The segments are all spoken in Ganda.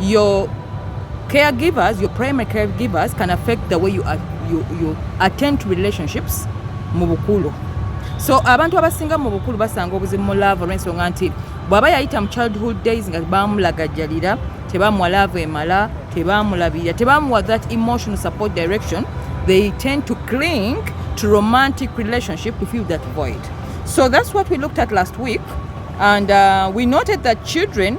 your caregivers your primary caregivers can affect the way you, are, you, you attend to relationships mu bukulu so abantu abasinga mu bukulu basanga obuzibu mu laavu olw'ensonga nti bw'aba yayita mu childhood days nga bamulagajjalira tebamuwa laavu emala tebamulabirira tebamuwa that emotional support direction they tend to cling to romantic relationship to fill that void so that's what we looked at last week and uh, we noted that children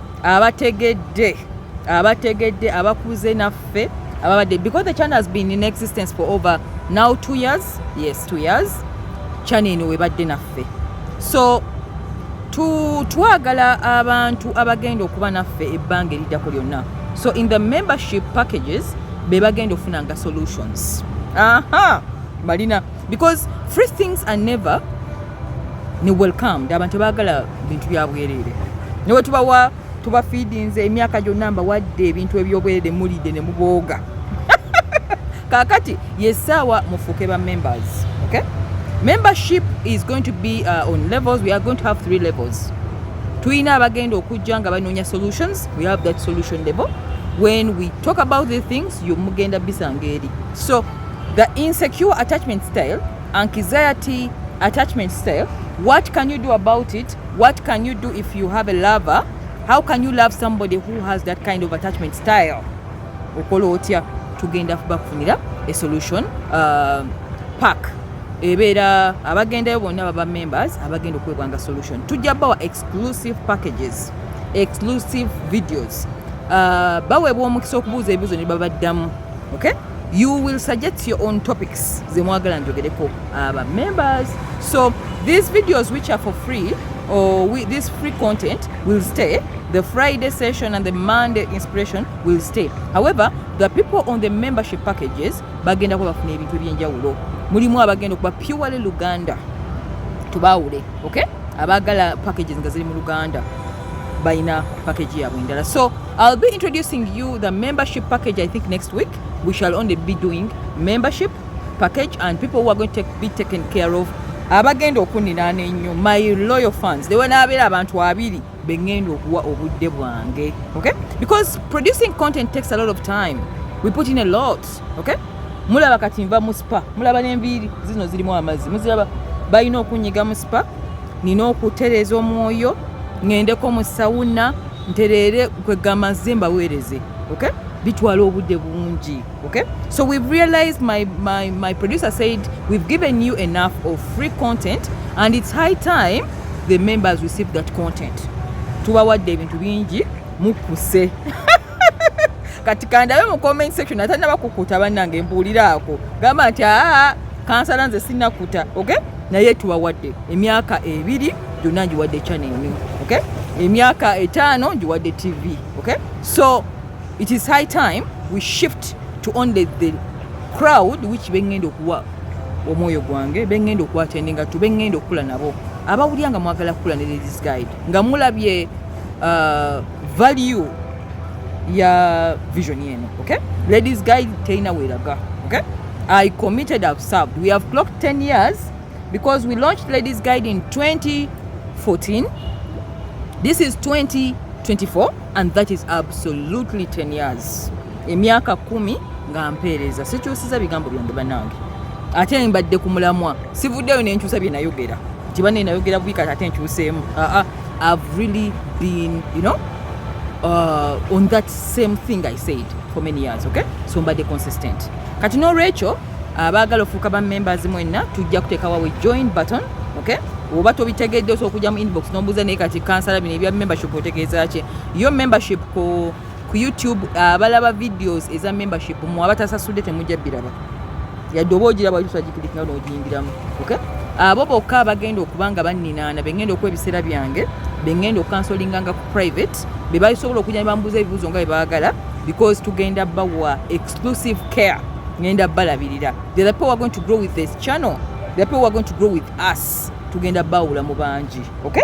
abategedde abategedde abakuze naffe ababadde because the channel has been in existence for over now two years yes two years channel eno webadde naffe so twagala abantu abagenda okuba naffe ebbanga eriddako lyonna so in the membership packages be bagenda okufunanga solutions aha balina because free things are never ni welcomed abantu bagala bintu bya bwerere newe tubawa tuba feedings emyaka gyonna mbawadde ebintu ebyobwerere mulide ne mubooga kakati yesaawa mufuuke ba members okay membership is going to be uh, on levels we are going to have three levels tulina abagenda okujja nga banoonya solutions we have that solution level when we talk about the things yo mugenda bisanga eri so The insecure attachment style, anxiety attachment style, what can you do about it? What can you do if you have a lover? How can you love somebody who has that kind of attachment style? Okola otya tugenda bakufunira a solution uh, pack ebeera abagendayo bonna baba members abagenda okwebwanga solution tujja bawa exclusive packages exclusive videos uh, baweebwa omukisa okubuuza ebibuzo ne babaddamu okay you will suggest your own topics zemwagala njogereko uh, aba members so these videos which are for free or we, this free content will stay the friday session and the monday inspiration will stay however the people on the membership packages bagenda kuba bafuna ebintu ebyenjawulo mulimu abagenda okuba purely luganda tubaawule okay abagala packages nga ziri mu luganda balina package yabwe endala so I'll be introducing you the membership package I think next week. We shall only be doing membership package and people who are going to take, be taken care of abagenda okuniraana ennyo my loyal fans they wanaabeera abantu abiri be ngenda okuwa obudde bwange okay because producing content takes a lot of time we put in a lot okay mulaba kati nva mu spa mulaba n'enviiri zino zirimu amazzi muziraba balina okunyiga mu spa nina okutereeza omwoyo ŋendeko mu sawuna ntereere kwegamba nze mbaweereze okay bitwala obudde bungi okay so we've realized my, my, my producer said we've given you enough of free content and it's high time the members receive that content tubawadde ebintu bingi mukuse kati kandabe mu comment section atanaba kukuta bannange mbuuliraako gamba nti aa kansala nze sinakuta okay naye tubawadde emyaka ebiri gyonna ngiwadde channel emu okay emyaka etaano ngiwadde tv okay so it is high time we shift to only the crowd which bengenda okuwa omwoyo gwange bengenda okuwa tendinga tu bengenda okukula nabo abawulira nga mwagala kukula ne ladies guide nga mulabye uh, value ya vision eno okay ladies guide teyina weraga okay i committed i've served we have clocked 10 years because we launched ladies guide in 2014 this is 2024 and that is absolutely 10 years emyaka kumi nga mpeereza sikyusiza bigambo byange banange ate mbadde ku mulamwa sivuddeyo nenkyusa byenayogera nti banenayogera bwikati ate nkyuseemu aa I've really been, you know, uh, on that same thing I said for many years, okay? So mbadde consistent. Kati no Rachel, abaagala ofuuka ba members mwenna tujja kuteekawo we join button, okay? oba tobitegedde osobola okujja mu inbox nombuuza naye kati kansala bino ebya membership otegeeza ki yo membership ku ku youtube abalaba videos eza membership mu abatasasudde temujja biraba yadde oba ogiraba otusagikirikinga nogiyingiramu okay abo bokka abagenda okuba nga banninaana bengenda okuwa ebiseera byange bengenda okukansolinganga ku private be basobola okujja nebambuuza ebibuuzo nga bebagala because tugenda bawa exclusive care ngenda balabirira the people who are going to grow with this channel the people who are going to grow with us tugenda bawula mu bangi okay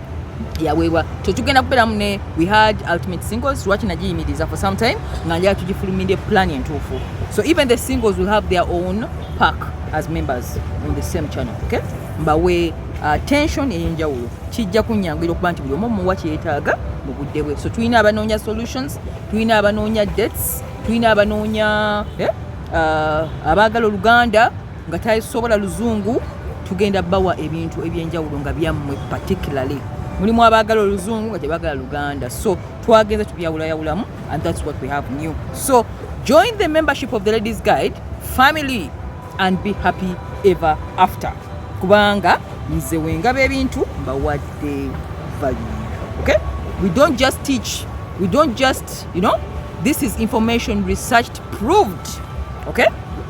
yaweebwa kyo tugenda kubeeramu ne we had ultimate singles lwaki nagiyimiriza for some time nga njala tugifulumire plan entuufu so even the singles will have their own pack as members on the same channel okay mbawe uh, tension eyenjawulo kijja kunyanguira okuba nti buli omu omuwa kyeyetaaga mu budde bwe so tulina abanoonya solutions tulina abanoonya dates tulina abanoonya eh, uh, abaagala oluganda nga tasobola luzungu tugenda bawa ebintu ebyenjawulo nga byammwe particularly mulimu abaagala oluzungu nga tebagala luganda so twagenza tubyawulayawulamu and thats what we have new so join the membership of the ladies guide family and be happy ever after kubanga nze wengaba ebintu mbawadde value okay we don't just teach we don't just you know this is information researched proved okay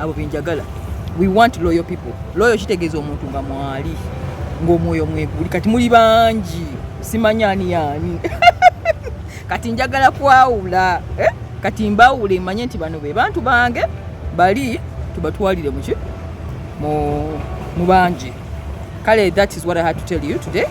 abo benjagala we want loyal people loyal kitegeeza omuntu nga mwali ng'omwoyo mweguli kati muli bangi simanyi ani yaani kati njagala kwawula eh? kati mbawule manye nti bano be bantu bange bali tubatwalire muki mu bangi kale that is what i had to tell you today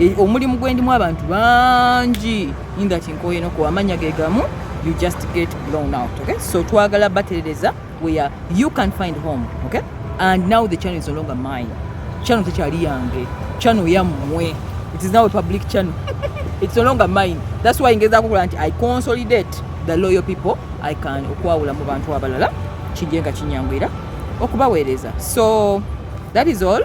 Eh, omulimu gwendimu abantu bangi ingati nkoye no kuwamanya ge gamu you just get blown out okay so twagala baterereza where you can find home okay and now the channel is no longer mine channel tekyali yange channel yammwe it is now a public channel it's no longer mine that's why ngeza kukola nti i consolidate the loyal people i can okwawula mu bantu abalala kijje nga kinyangwira okubaweereza so that is all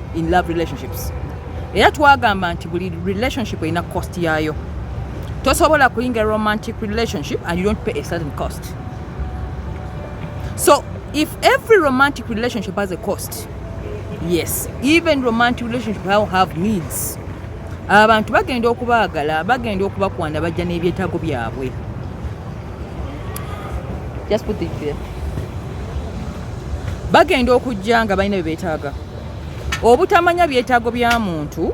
in love relationships era twagamba nti buli relationship erina cost yaayo tosobola kuyingira romantic relationship and you don't pay a certain cost so if every romantic relationship has a cost yes even romantic relationship how have needs abantu bagenda okubaagala bagenda okubakwana bajja n'ebyetaago byabwe just put it there bagenda okujja nga balina bye beetaaga obutamanya byetaago bya muntu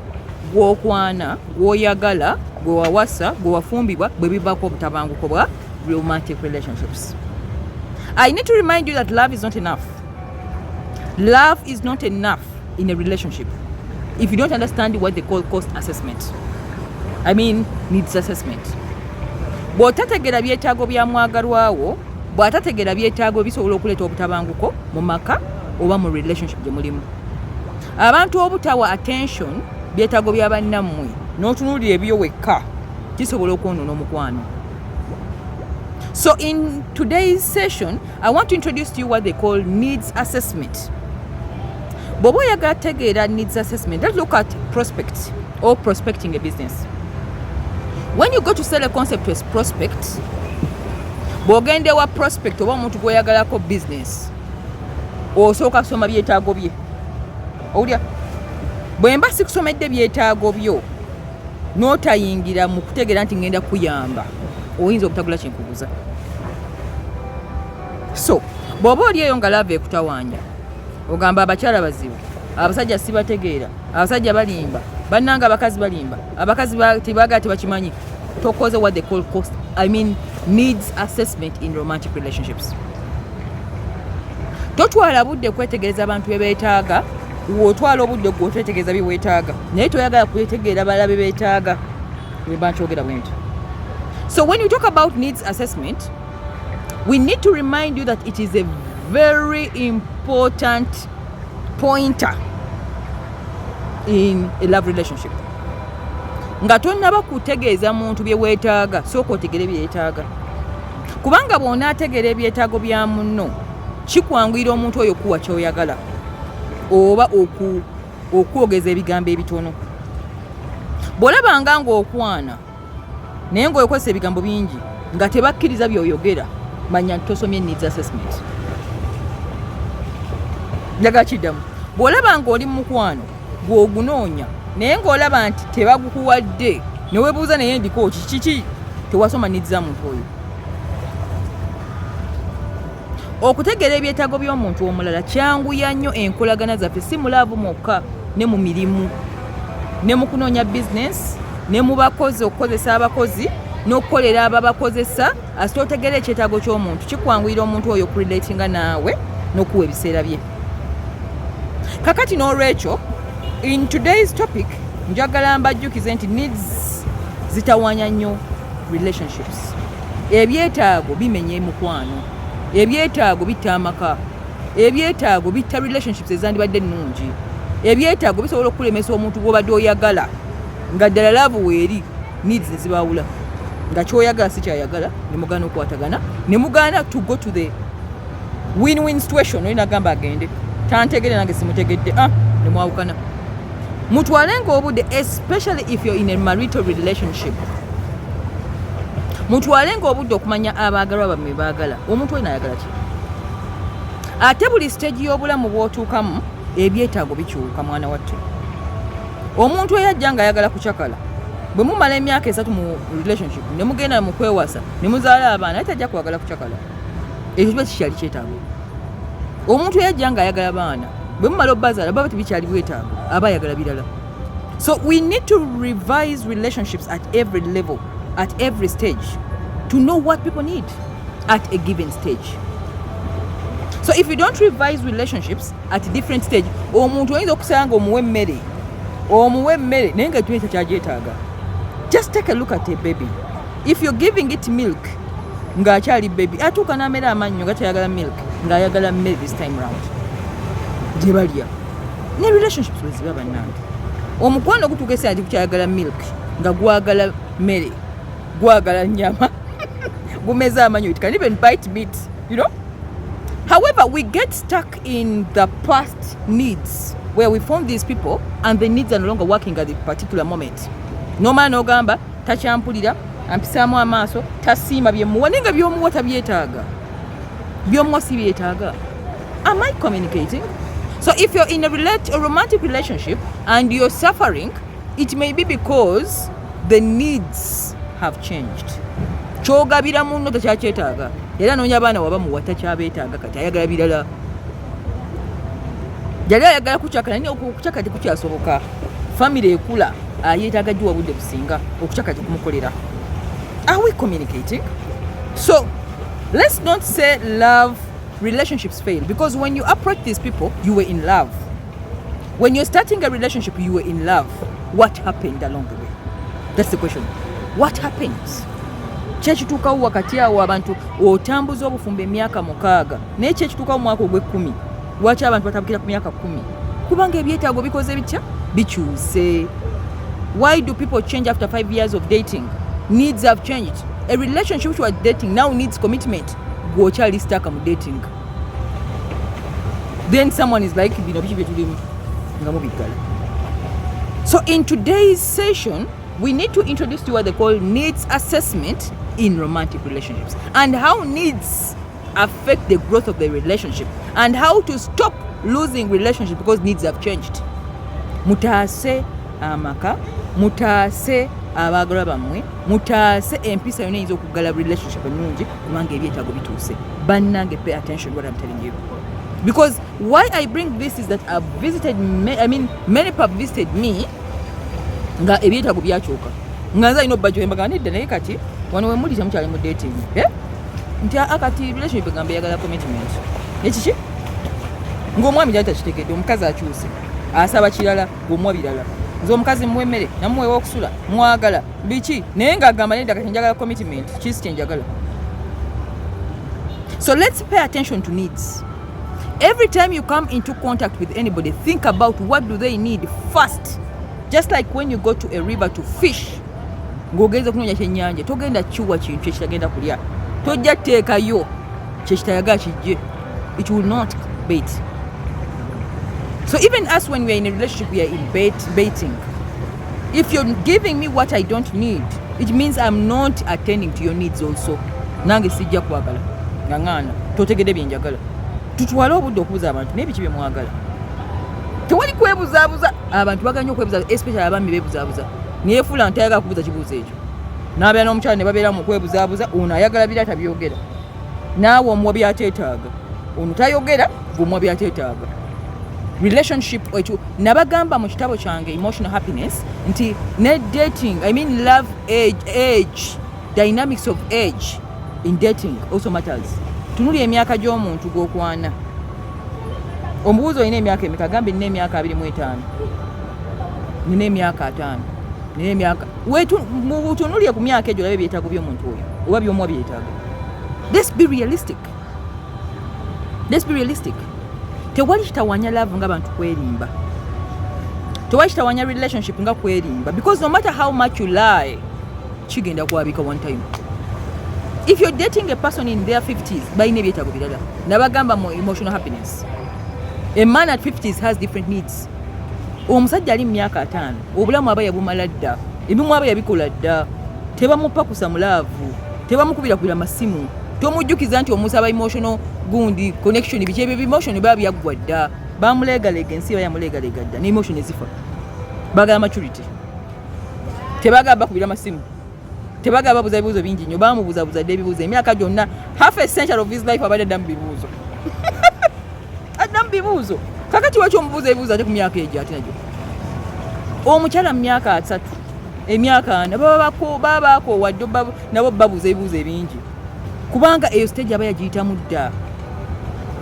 gwokwana gwoyagala gwewawasa gwewafumbibwa bwe bivaako obutabanguko bwa romantic relationships i need to remind you that love is not enough love is not enough in a relationship if you don't understand what they call cost assessment i mean needs assessment bw'otategeera byetaago bya mwagalwawo bw'atategeera byetaago ebisobola okuleeta obutabanguko mu maka oba mu relationship gye mulimu abantu obutawa attention byetaago bya bannammwe n'otunuulira ebiyo wekka kisobola okwonoona omukwano so in today's session i want to introduce to you what they call needs assessment bw'oba oyagala tegeera needs assessment let's look at prospect or prospecting a business when you go to sell a concept as prospect bw'ogenda ewa prospect oba omuntu gweyagalako business osooka kusoma byetaago bye owulya bwe mba sikusomedde byetaago byo n'otayingira mu kutegeera nti ngenda kuyamba oyinza obutagula kyenkuguza so bw'oba oli eyo nga laava ekutawanya ogamba abakyala bazibu abasajja sibategeera abasajja balimba bannanga abakazi balimba abakazi tebagala tebakimanyi tokoze what they call cost i mean needs assessment in romantic relationships totwala budde kwetegereza abantu bebetaaga wotwala obudde gwe otwetegereza byewetaaga naye toyagala kwetegeera bala bebetaaga webankyogera bwenti so when you talk about needs assessment We need to remind you that it is a very important pointer in a love relationship nga tonnaba kutegeeza muntu bye weetaaga sooka otegere byetaaga kubanga bw'onaategeera ebyetaago bya munno kikwanguyira omuntu oyo kuwa kyoyagala oba okwogeza ebigambo ebitono bw'olabanga ng'okwana naye ngaokozesa ebigambo bingi nga tebakkiriza byoyogera manya nti tosomye needs assessment njagala kiddamu bw'olaba ng'oli mu mukwano gw'ogunoonya naye ng'olaba nti tebagukuwadde newebuuza naye ndiko kiki tewasoma niza muntu oyo Okutegeera ebyetaago by'omuntu omulala kyanguya nnyo enkolagana zaffe si mulaavu mwokka ne mu mirimu ne mu kunoonya bizinensi ne mu bakozi okukozesa abakozi n'okukolera ababakozesa asita otegeera ekyetaago ky'omuntu kikwanguyira omuntu oyo okulidatinga naawe n'okuwa ebiseera bye kakati n'olwekyo in today's topic njagala mbajjukize nti needs zitawanya nnyo relationships ebyetaago bimenya emukwano ebyetaago bitta amaka ebyetaago bitta relationships ezandibadde ennungi ebyetaago bisobola okukulemesa omuntu gwobadde oyagala nga ddala laavu weeri needs nezibaawula nga kyoyagala sikyayagala nemugana okwatagana nemugana to go to the win win situation oli nagamba agende tantegere nange simutegedde ah nemwawukana mutwale nga obudde especially if you're in a marital relationship mutwale nga obudde okumanya abaagalwa bamwe baagala omuntu olina ayagala ki ate buli siteegi y'obulamu bwotuukamu ebyetaago bikyuka mwana wattu omuntu eyajja nga ayagala kucakala bwe mumala emyaka esatu mu relationship ne mugenda mu kwewasa ne muzaala abaana aye tajja kwagala kucakala ekyo kiba kikyali kyetaago omuntu yajja nga ayagala baana bwe mumala obazaala baba tebikyali bwetaago aba ayagala birala so we need to revise relationships at every level at every stage to know what people need at a given stage so if you don't revise relationships at different stage omuntu oyinza okusanga nga omuwa emmere omuwa emmere naye nga ekyo ekyo kyagyetaaga just take a look at a baby if you're giving it milk ng'akyali baby atuuka n'amera amannyo nga tayagala milk ng'ayagala mmere this time round gye balya ne relationships bwe ziba bannange omukwano gutuuka esaa nti gukyayagala milk nga gwagala mmere gwagala nyama gumeze amannyo it can even bite meat you know however we get stuck in the past needs where we found these people and the needs are no longer working at the particular moment nomala nogamba takyampulira ampisaamu amaaso tasiima byemuwa naye nga byomuwa tabyetaaga byomuwa si byetaaga am i communicating so if you're in a, relate, a romantic relationship and you're suffering it may be because the needs have changed kyogabira munno takyakyetaaga era noonya abaana wabamuwa takyabeetaaga kati ayagala birala yali ayagala kucaka naye okucaka tekukyasoboka famire ekula ayetaaga ah, giwa budde businga okucaka tekumukolera are we communicating so let's not say love relationships fail because when you approach these people you were in love when you're starting a relationship you were in love what happened along the way that's the question what happens kyekituukawo wakati awo abantu otambuza obufumbo emyaka mukaaga naye ki ekituuka mu mwaka ogw'ekkumi lwaki abantu batabukira ku myaka kkumi kubanga ebyetaago bikoze bitya bikyuse why do people change after five years of dating needs have changed a relationship which was dating now needs commitment gwokyali staka mu dating then someone is like bino biki byetulimu nga mubiggala so in today's session we need to introduce to you what they call needs assessment in romantic relationships and how needs affect the growth of the relationship and how to stop losing relationship because needs have changed mutaase amaka mutaase abaagalwa bammwe mutaase empisa yona eyinza okuggala relationship ennungi kubanga ebyetaago bituuse bannange pay attention what I'm telling you because why I bring this is that I've visited I mean many people have visited me nga ebyetaago byakyuka nga nze alina obubajjo embaga nedda naye kati wano wemuli temukyali mu dating eh? nti aa kati relationship egamba eyagala commitment ekiki ng'omwami gyali takitegedde omukazi akyuse asaba kirala gomwa birala nze omukazi muwa emmere namuwewa okusula mwagala biki naye ng'agamba nedda kati njagala commitment kisi kyenjagala so let's pay attention to needs every time you come into contact with anybody think about what do they need first just like when you go to a river to fish ng'ogenze kunoonya kyennyanja togenda kiwa kintu kyekitagenda kulya tojja teekayo kyekitayaga kijje it will not bait so even us when weare in a relationship weare in bait, baiting if you're giving me what i don't need it means i'm not attending to your needs also nange sijja kwagala nga ŋaana totegede byenjagala tutwale obudde okubuza abantu naye biki byemwagala tewali kwebuzabuza abantu baganye okwebuza especially abami bebuzabuza neyefuula nti ayagala kubuuza kibuuzo ekyo n'abeera n'omukyala ne babeera mu kwebuzaabuza ono ayagala bira tabyogera naawe omuwa byateetaaga ono tayogera gweomuwa byateetaaga relationship ekyo nabagamba mu kitabo kyange emotional happiness nti ne dating i mean love age age dynamics of age in dating also matters tunuli emyaka gy'omuntu gw'okwana omubuuzi olina emyaka emeka gambe nina emyaka abiri mu etaano nina emyaka ataano nina emyaka mutunulire ku myaka egyo olabe ebyetaago by'omuntu oyo oba byomuwa byetaago let's be realistic let's be realistic tewali kitawanya love nga bantu kwerimba tewali kitawanya relationship nga kwerimba because no matter how much you lie kigenda kwabika one time if you're dating a person in their 50s balina ebyetaago birala nabagamba mu emotional happiness a man at 50s has different needs omusajja ali mu myaka ataano obulamu aba yabumala dda ebimu aba yabikola dda tebamupakusa mulaavu tebamukubira kubira masimu tomujjukiza nti omuntu aba emotional gundi connection biki ebyo emotion biba byaggwa dda bamuleegalega ensi iba yamuleegalega dda ne emotion ezifa bagala maturity tebagala bakubira masimu tebagala babuza bibuuzo bingi nnyo bamubuzabuza dde ebibuuzo emyaka gyonna half a century of his life abadde addamu bibuuzo addamu bibuuzo kakati waki omubuuza ebibuuzo ate ku myaka egyo ate nagyo omukyala mu myaka asatu emyaka ana baba bakoowa ddo nabo babuuza ebibuuzo ebingi kubanga eyo stage aba yagiyitamu dda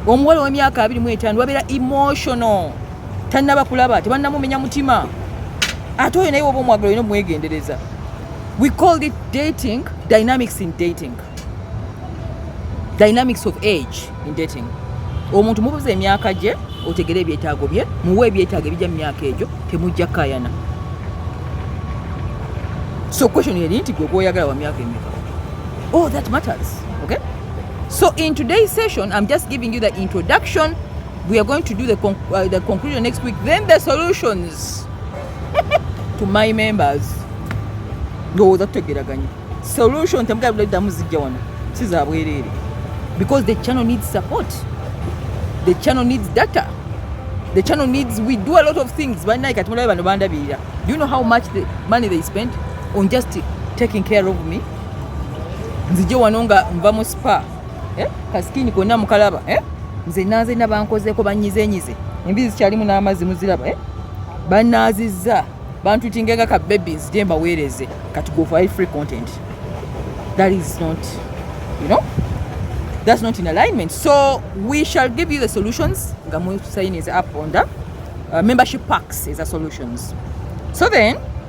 omuwala ow'emyaka abiri mu etaano babeera emotional tannaba kulaba tebannamumenya mutima ate oyo naye woba omwagala olina omwegendereza We called it dating, dynamics in dating. Dynamics of age in dating. Omuntu mubuza emyaka gye otegere ebyetaago bye muwe ebyetaago ebija mu myaka egyo temujja kayana. So question yeri nti gwe gwoyagala wa myaka emeka. Oh, that matters. Okay? So in today's session, I'm just giving you the introduction. We are going to do the, conc uh, the conclusion next week, then the solutions. to my members ndowooza tutegeraganye solution temugabddamu zijja wano si za bwereere because the channel needs support the channel needs data the channel needs we do a lot of things banaye kati mulabe bano bandabirira do you know how much the money they spend on just taking care of me nzije wano nga nva mu spa eh? kasikini konna mukalaba eh? nze nanze nabankozeko banyizenyize embizi zikyalimu n'amazzi muziraba eh? banaazizza bantu tingenga ka babies gye mbaweereze kati go for free content that is not you know that's not in alignment so we shall give you the solutions nga musayinize up on the uh, membership packs eza solutions so then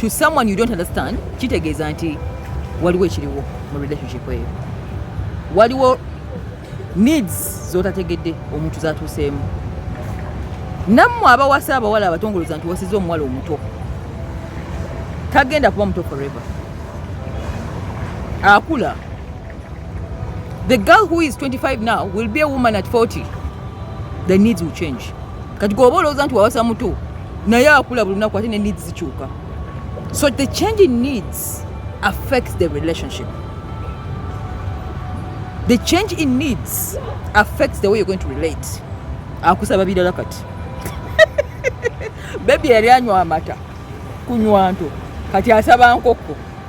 to someone you don't understand kitegeeza nti waliwo ekiriwo mu relationship eyo waliwo needs zotategedde omuntu zatuuseemu nammwe abawasa abawala abatongoloza nti wasiza omuwala omuto tagenda kuba muto forever akula The girl who is 25 now will be a woman at 40. The needs will change. Kati gwoba olowooza nti wawasa muto naye akula buli lunaku ate ne needs zikyuka. So the change in needs affects the relationship. The change in needs affects the way you're going to relate. Akusaba birala kati. Baby yali anywa amata kunywa nto kati asaba nkoko.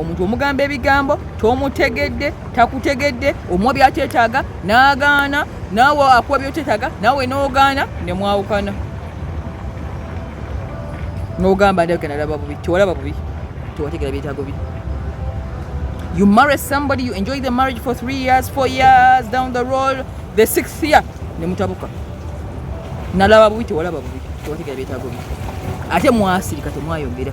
omuntu omugamba ebigambo tomutegedde takutegedde omuwa byakyetaaga n'agaana naawe akuwa byokyetaaga naawe n'ogaana ne mwawukana n'ogamba ndagenalaba bubi tewalaba bubi tewategera byetaago bi you marry somebody you enjoy the marriage for three years four years down the road the sixth year ne mutabuka nalaba bubi tewalaba bubi tewategera byetaago bi ate mwasirika temwayogera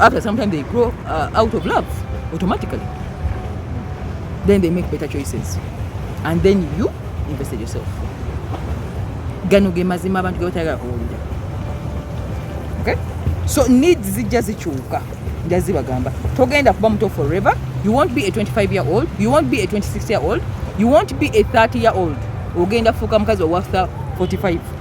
After some time they grow uh, out of love automatically. Then they make better choices. And then you invested yourself. Gano ge mazima abantu ge batayagala kuwulira. Okay? So needs zijja zikyuka. Nja zibagamba. Togenda kuba muto forever. You won't be a 25 year old. You won't be a 26 year old. You won't be a 30 year old. Ogenda fuuka mukazi wa 45.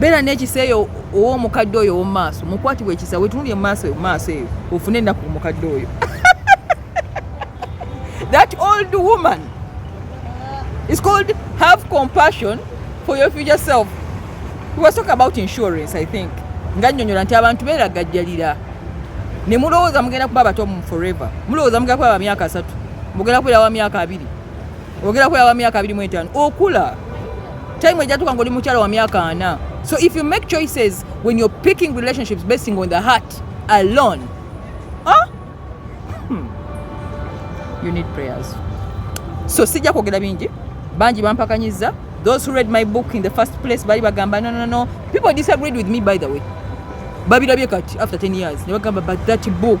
beera n'ekisa eyo ow'omukadde oyo ow'omu maaso mukwatibwa ekisa wetunulire mu maaso mu maaso eyo ofune ennaku omukadde oyo that old woman is called have compassion for your future self we were talking about insurance i think nga nnyonyola nti abantu beeragajjalira ne mulowooza mugenda kuba abato mu forever mulowooza mugenda kuba ba myaka asatu mugenda kubeera wa myaka abiri ogerako yaba myaka abiri mu etaano okula time ejatuka ngoli mukyala wa myaka ana so if you make choices when you're picking relationships basing on the heart alone huh? hmm. you need prayers so sijja kwogera bingi bangi bampakanyiza those who read my book in the first place bali bagamba no, no, no. people disagreed with me by the way babilabye kati after 10 years ne bagamba but that book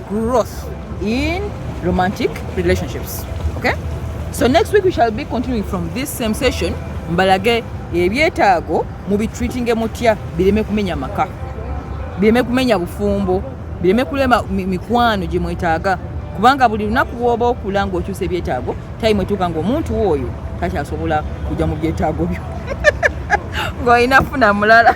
growth in romantic relationships okay so next week we shall be continuing from this same session mbalage ebyetaago mubitreatinge mutya bireme kumenya maka bireme kumenya bufumbo bireme kulema mikwano gye mwetaaga kubanga buli lunaku bwoba okula ngaokyusa ebyetaago time etuuka ngaomuntu oyo takyasobola kujja mu byetaago byo ng'olina funa mulala